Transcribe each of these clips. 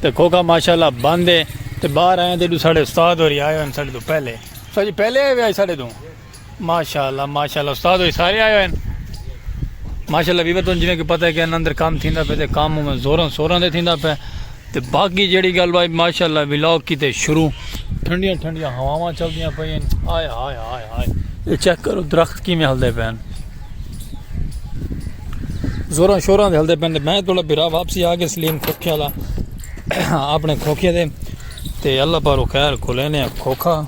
تے کھوکھا ماشاءاللہ بند ہے تے باہر آئے ہیں تے ساڑھے استاد ہوری آئے ہیں ساڑھے تو پہلے استاد جی پہلے آئے ہوئے آج ساڑھے تو ماشاءاللہ ماشاءاللہ استاد ہوری سارے آئے ہوئے ہیں ماشاءاللہ بھی بتوں جنہیں کہ پتہ ہے کہ اندر کام تھیندہ پہ تے کام ہوں میں زورن سورن دے تھیندہ پہ تے باقی جیڑی گل بھائی ماشاءاللہ ویلاگ کی تے شروع ٹھنڈیاں ٹھنڈیاں ہواواں چل دیاں پہ ہیں آئے آئے آئے آئے یہ چیک کرو درخت کی میں ہل دے پہ ہیں زوراں شوراں دے ہلدے پہن دے میں توڑا بھرا واپسی آگے سلیم کھوکھے والا اپنے کھوکھے دے تے اللہ پارو خیر کھولینے کھوکھا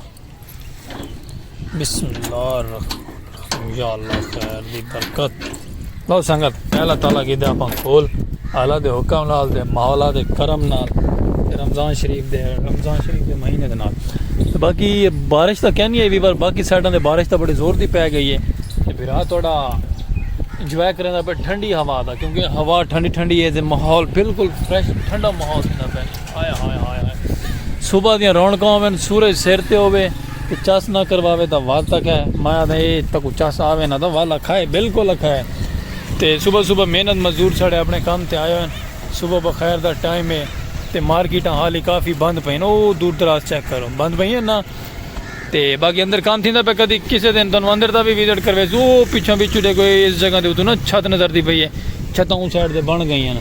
بسم اللہ الرحمن یا اللہ خیر دی برکت لو سنگت پہلا تالا کی دے اپاں کھول اعلی دے حکم نال تے مولا دے کرم نال رمضان شریف دے رمضان شریف دے مہینے دے نال باقی بارش تاں کہنی ہے بھی پر باقی سائڈاں دے بارش تاں بڑی زور دی پے گئی ہے تے بھرا تہاڈا انجوائے کریں دا پہ ٹھنڈی ہوا دا کیونکہ ہوا ٹھنڈی ٹھنڈی ہے تے ماحول بالکل فریش ٹھنڈا ماحول تھیندا پے ہائے ہائے ہائے ہائے صبح دیاں رونقاں ہوون سورج سر تے ہوے تے چس نہ کرواوے تاں ول تک ہے مایا دے تکو چس آوے نہ تاں ول اکھائے بالکل اکھائے تے صبح صبح محنت مزدور ساڑے اپنے کم تے آئے ہوئن صبح بخیر دا ٹائم ہے تے مارکیٹاں حالی کافی بند پئین او دور دراز چیک کرو بند پئین نا تے باقی اندر کم تھیندا پئے کدی کسے دن تانوں اندر دا وی وزٹ کرویسوں او پچھوں وچ تے کوئی اس جگہ دے اتوں نا چھت نظر دی پئی ہے چھتاں اوں سائیڈ تے بن گئیاں نا۔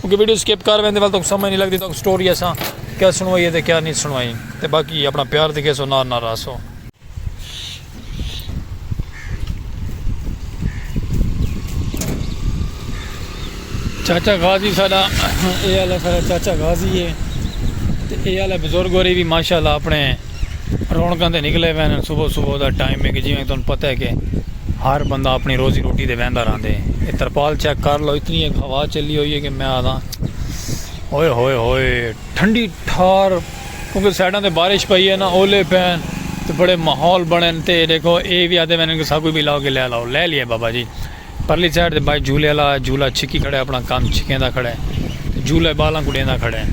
کیونکہ ویڈیو سکپ کر ویندے ول تک سمجھ نہیں لگدی تک سٹوری اساں کیا سنوائی ہے تے کیا نہیں سنوائی تے باقی اپنا پیار دکھے سو نار نار راسو۔ چاچا غازی ساڈا اے والا ساڈا چاچا غازی ہے تے اے والا بزرگ ہوری بھی ماشاءاللہ اپنے رونقاں تے نکلے وے ہن صبح صبح دا ٹائم ہے کہ جی میں تن پتہ ہے کہ ہر بندہ اپنی روزی روٹی دے ویندا راندے اے ترپال چیک کر لو اتنی ایک ہوا چلی ہوئی ہے کہ میں آدھا ہوئے ہوئے ہوئے ٹھنڈی ٹھار کیونکہ سائڈاں تے بارش پئی ہے نا اولے پین تے بڑے ماحول بنے تے دیکھو اے بھی آدھے میں نے کہ ساکو بھی لاؤ کہ لے لاؤ لے لیے بابا جی پرلی سائیڈ تے بھائی جھولے آلا ہے جھولا چھکی کھڑا ہے اپنا کم چھکیندا کھڑا ہے تے جھولا بالاں کوں ڈیندا کھڑا ہے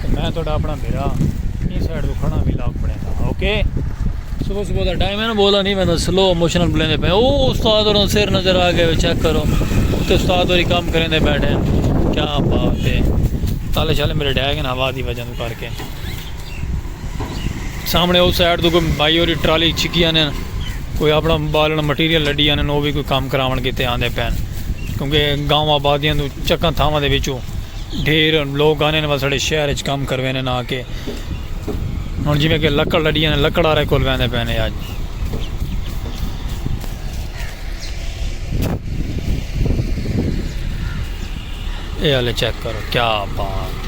تے میں تہاڈا اپنا بھرا ایں سائیڈ توں کھڑا ولاگ بنیندا ہاں اوکے صبح صبح دا ٹائم ہے نا بولا نہیں ویندا سلو اموشنل بلیندے پے او استاد اور سر نظر آ گئے چیک کرو تے استاد اور کام کریندے بیٹھے کیا بات ہے تالے شالے میرے ڈھے گئے ہوا دی وجہ کر کے سامنے او سائیڈ تو کوئی بھائی ہوری ٹرالی چھکی آنے کوئی اپنا بالن مٹیریل لڈی آنے وہ بھی کوئی کام کراون کیتے آندے پین کیونکہ گاؤں آبادیاں تو چکاں تھاواں دے وچوں ڈھیر لوگ آنے وہ ساڑے شہر اچ کام کروینے نہ کے ہن جویں کہ لکڑ لڈی آنے لکڑ آرے کول ویندے پین اج اے والے چیک کرو کیا بات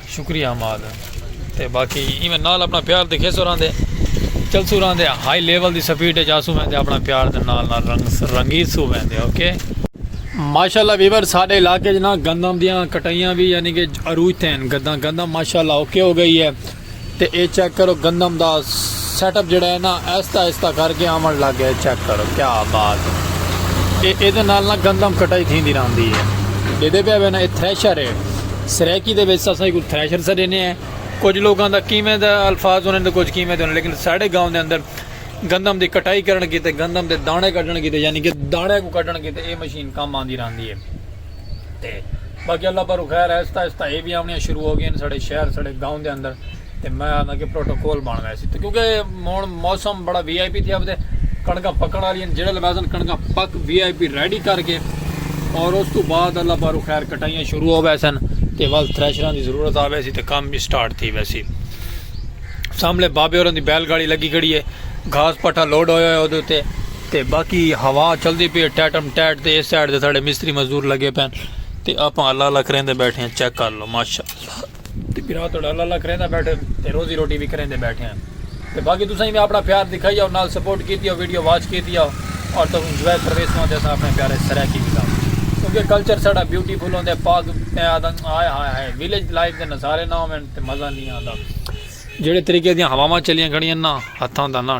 شکریہ حماد تے باقی ایویں نال اپنا پیار دکھیسو راندے چلسو راندے ہائی لیول دی سپیڈ اچ آسو ویندے اپنا پیار دے نال نال رنگیسو ویندے اوکے۔ ماشاءاللہ ویورز ساڈے علاقے اچ نا گندم دیاں کٹائیاں وی یعنی کہ عروج تے ہن گندم ماشاءاللہ اوکے ہو گئی ہے۔ تے اے چیک کرو گندم دا سیٹ اپ جیڑا ہے نا آہستہ آہستہ کر کے آون لگ گیا ہے چیک کرو کیا بات ہے اے ایدے نال نا گندم کٹائی تھیندی راہندی ہے ڈیدے پیا وے نا اے تھریشر ہے سرائیکی دے وچ اساں ایکوں تھریشر سا ڈینے ہیں کچھ لوگاں دا کیویں دا الفاظ ہوندے تے کچھ کیویں دے ہوندے لیکن ساڈے گاؤں دے اندر گندم دی کٹائی کرن کیتے گندم دے دانے کڈھن کیتے یعنی کہ دانے کوں کڈھن کیتے اے مشین کم آندی راہندی ہے۔ تے باقی اللہ پر خیر آہستہ آہستہ اے بھی آونیاں شروع ہو گئین ساڑے شہر ساڑے گاؤں دے اندر تے میں آنا کہ پروٹوکول بن گئے سی کیونکہ مون موسم بڑا وی آئی پی تھیا تے کڑکا پکڑ والی ہیں جڑے لباسن کڑکا پک وی آئی پی ریڈی کر کے اور اس تو بعد اللہ پر خیر کٹائیاں شروع ہو گئے سن تے بس تھریشراں دی ضرورت آوے سی تے کام بھی سٹارٹ تھی ویسی سامنے بابے اور دی بیل گاڑی لگی کھڑی ہے گھاس پٹھا لوڈ ہویا ہے اودے تے تے باقی ہوا چلدی پی ہے ٹیٹم ٹیٹ تے اس سائیڈ تے ساڈے مستری مزدور لگے پین تے آپاں اللہ اللہ کریندے بیٹھے ہیں چیک کر لو ماشاءاللہ تے بھرا تہاڈا اللہ اللہ کریندے بیٹھے تے روزی روٹی وی کریندے بیٹھے ہیں تے باقی تساں وی اپنا پیار دکھائی او نال سپورٹ کیتی او ویڈیو واچ کیتی او اور تساں انجوائے کروے سو تے اساں اپنے پیارے سرائیکی بھی لاؤ کیونکہ کلچر ساڈا بیوٹیفل ہوندے پاک میں آدھاں ہائے ہائے ہائے ویلیج لائف دے نظارے نہ ہوون تے مزہ نہیں آندا جیڑے طریقے دیاں ہواواں چلیاں کھڑیاں نا ہتھاں دا نا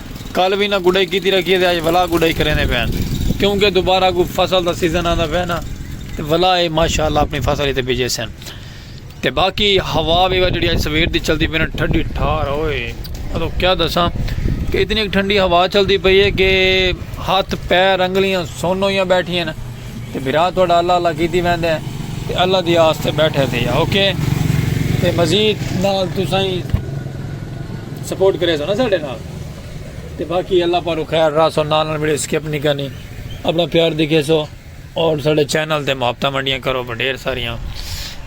کل وی انہاں گڈائی کیتی رکھی تے اج ولا گڈائی کریندے پئے ہن کیونکہ دوبارہ کوئی فصل دا سیزن آندا پئے نا تے ولا اے ماشاءاللہ اپنی فصل ایتھے بجیسن تے باقی ہوا وی جیڑی اج سویر دی چلدی پئی نا ٹھڈی ٹھار اوئے اتو کیا دساں کہ اتنی ٹھنڈی ہوا چلدی پئی ہے کہ ہاتھ پیر انگلیاں سن ہویاں بیٹھیاں نا تے بھرا تہاڈا اللہ اللہ کیتی ویندے ہیں تے اللہ دی آس تے بیٹھے تھے یا اوکے تے مزید نال تسائی سپورٹ کرے سو نا ساڈے نال تے باقی اللہ پارو خیر راہ سو نال نال ویڈیو سکپ نہیں کرنی اپنا پیار دکھے سو اور ساڈے چینل تے محبتہ منڈیاں کرو بڈیر ساریاں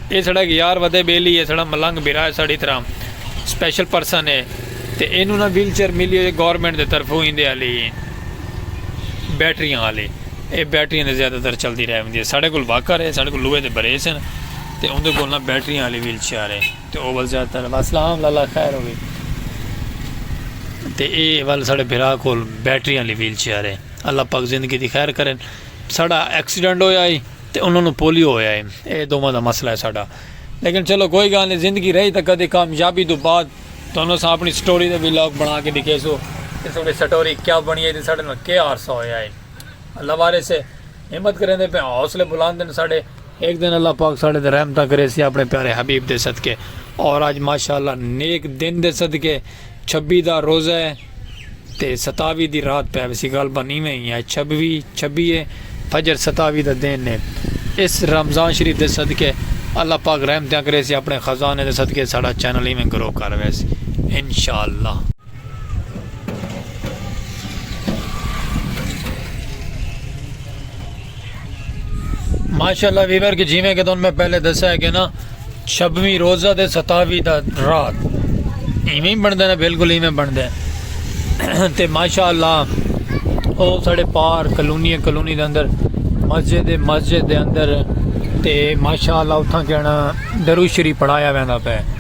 اے ساڈا ایک یار ودے بیلی ہے ساڈا ملنگ بھرا ہے ساڈی طرح سپیشل پرسن ہے تے اینو نا ویل چیئر ملی ہوئی گورنمنٹ دے طرفوں ایندے علی بیٹریاں آلے اے بیٹریاں دے زیادہ تر چلدی رہ وندی ہے ساڈے کول واکر ہے ساڈے کول لوہے دے بریس ہیں تے اوندے کول نہ بیٹریاں آلی ویل چیئر ہے تے او ول زیادہ تر واسلہ ہاں اللہ خیر ہوے تے اے ول ساڈے بھرا کول بیٹریاں آلی ویل چیئر ہے اللہ پاک زندگی دی خیر کرن ساڈا ایکسیڈنٹ ہویا ہے تے انہاں نو پولیو ہویا ہے اے دوواں دا مسئلہ ہے ساڈا لیکن چلو کوئی گال نہیں زندگی رہی تے کدی کامیابی دو بعد تہانوں اساں اپݨی سٹوری دا ویلاگ بݨا کے ݙکھیسوں کہ ساݙی سٹوری کیا بݨی ہے تے ساݙے نال کے حادثہ ہویا ہے۔ اللہ وارث ہے ہمت کریندے پئے حوصلے بلند ہن ساݙے۔ ہک دن اللہ پاک ساݙے تے رحمتاں کریسی اپݨے پیارے حبیب دے صدقے اور اڄ ماشاءاللہ نیک دن دے صدقے چھبی دا روزہ ہے۔ تے ستاوی دی رات پئے ویسی گالھ بن ایویں ای اے چھبوی چھبی اے فجر ستاوی دا دن اے اس رمضان شریف دے صدقے اللہ پاک رحمتیاں کریسی اپنے خزانے دے صدقے ساڈا چینل ایویں گرو کر ویسی انشاءاللہ۔ ماشاءاللہ ویور کہ جیویں کہ تن میں پہلے دسا ہے کہ نا شبمی روزہ دے ستاوی دا رات ایویں بن دے نا بالکل ایویں بن دے تے ماشاءاللہ او ساڑے پار کلونی کلونی دے اندر مسجد مسجد دے اندر تے ماشاءاللہ اتھاں کہنا درو شریف پڑھایا ویندا پہ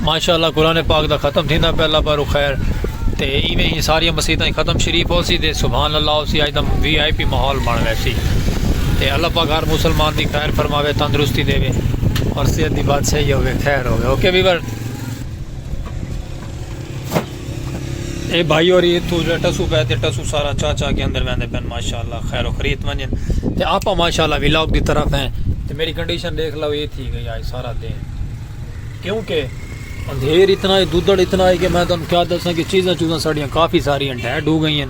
ماشاءاللہ قرآن پاک دا ختم تھیندا پیا اللہ پارو خیر تے ایویں ہی ساری مسیتاں ختم شریف ہو سی تے سبحان اللہ ہو سی اج دا وی آئی پی ماحول بن گئے سی تے اللہ پاک ہر مسلمان دی خیر فرماوے تندرستی دے وے اور صحت دی بات صحیح ہوے خیر ہوے اوکے ویور اے بھائی ہوری اتھوں جڑا ٹسو پے تے ٹسو سارا چا چا کے اندر ویندے پن ماشاءاللہ خیر و خریت ونجن تے آپا ماشاءاللہ ویلاگ دی طرف ہیں تے میری کنڈیشن دیکھ لو اے تھی گئی آج سارا دین کیونکہ اندھیر اتنا ہے دودڑ اتنا ہے کہ میں تم کیا دساں کہ چیزاں چیزاں ساڑیاں کافی ساری ہیں ڈیڈ ہو گئی ہیں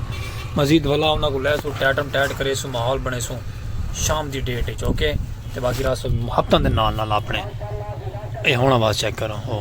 مزید بھلا انہاں کو لے سو ٹیٹم ٹیٹ کرے سو ماحول بنے سو شام دی ڈیٹ ہے چوکے تے باقی راہ سو ہفتہ دن نال نال اپنے اے ہونا باز چیک کرو ہو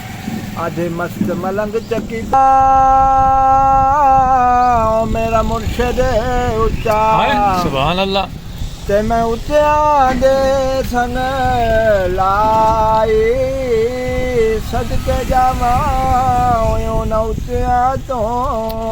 آدھے مست ملنگ چکی پا او میرا مرشد اچا تے میں اتیاں دے سنگ لائی صدقے جاواں اونا اتیاں توں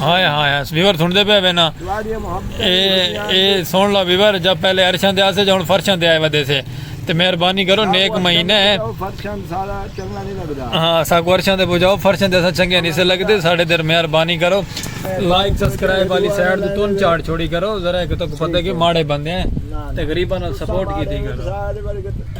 ہائے ہائے ہائے ویور سنتے پہ وینا اے اے سن لا ویور جب پہلے ارشان دے آسے جاؤن فرشان دے آئے ودے سے تے مہربانی کرو نیک مہینے ہیں فرشان سارا چنگا نہیں لگدا ہاں سا کو ارشان دے بجاؤ فرشان دے سا چنگے نہیں سے لگ دے ساڑھے در مہربانی کرو لائک سبسکرائب والی سائٹ دے تون چاڑ چھوڑی کرو ذرا ایک تو کو پتہ کہ ماڑے بندے ہیں تے غریبہ نال سپورٹ کی تھی کرو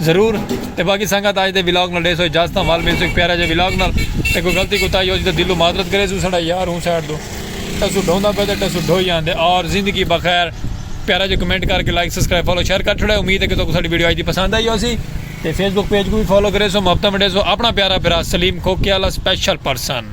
ضرور تے باقی سنگت آج دے ولاگ نال ڈیسو اجازت تاں وال ملسو ایک پیارا جے ولاگ نال تے کوئی غلطی کو تائی ہو جی تے دلو معذرت کرے سو ساڈا یار ہوں سائیڈ دو ٹسو ڈھوندا پے تے ٹسو ڈھوئی آندے اور زندگی بخیر پیارا جے کمنٹ کر کے لائک سبسکرائب فالو شیئر کر چھڑے امید ہے کہ تو ساڈی ویڈیو آج دی پسند آئی ہو سی تے فیس بک پیج کو بھی فالو کرے سو محبتاں منڈے سو اپنا پیارا برا سلیم کھوکے والا سپیشل پرسن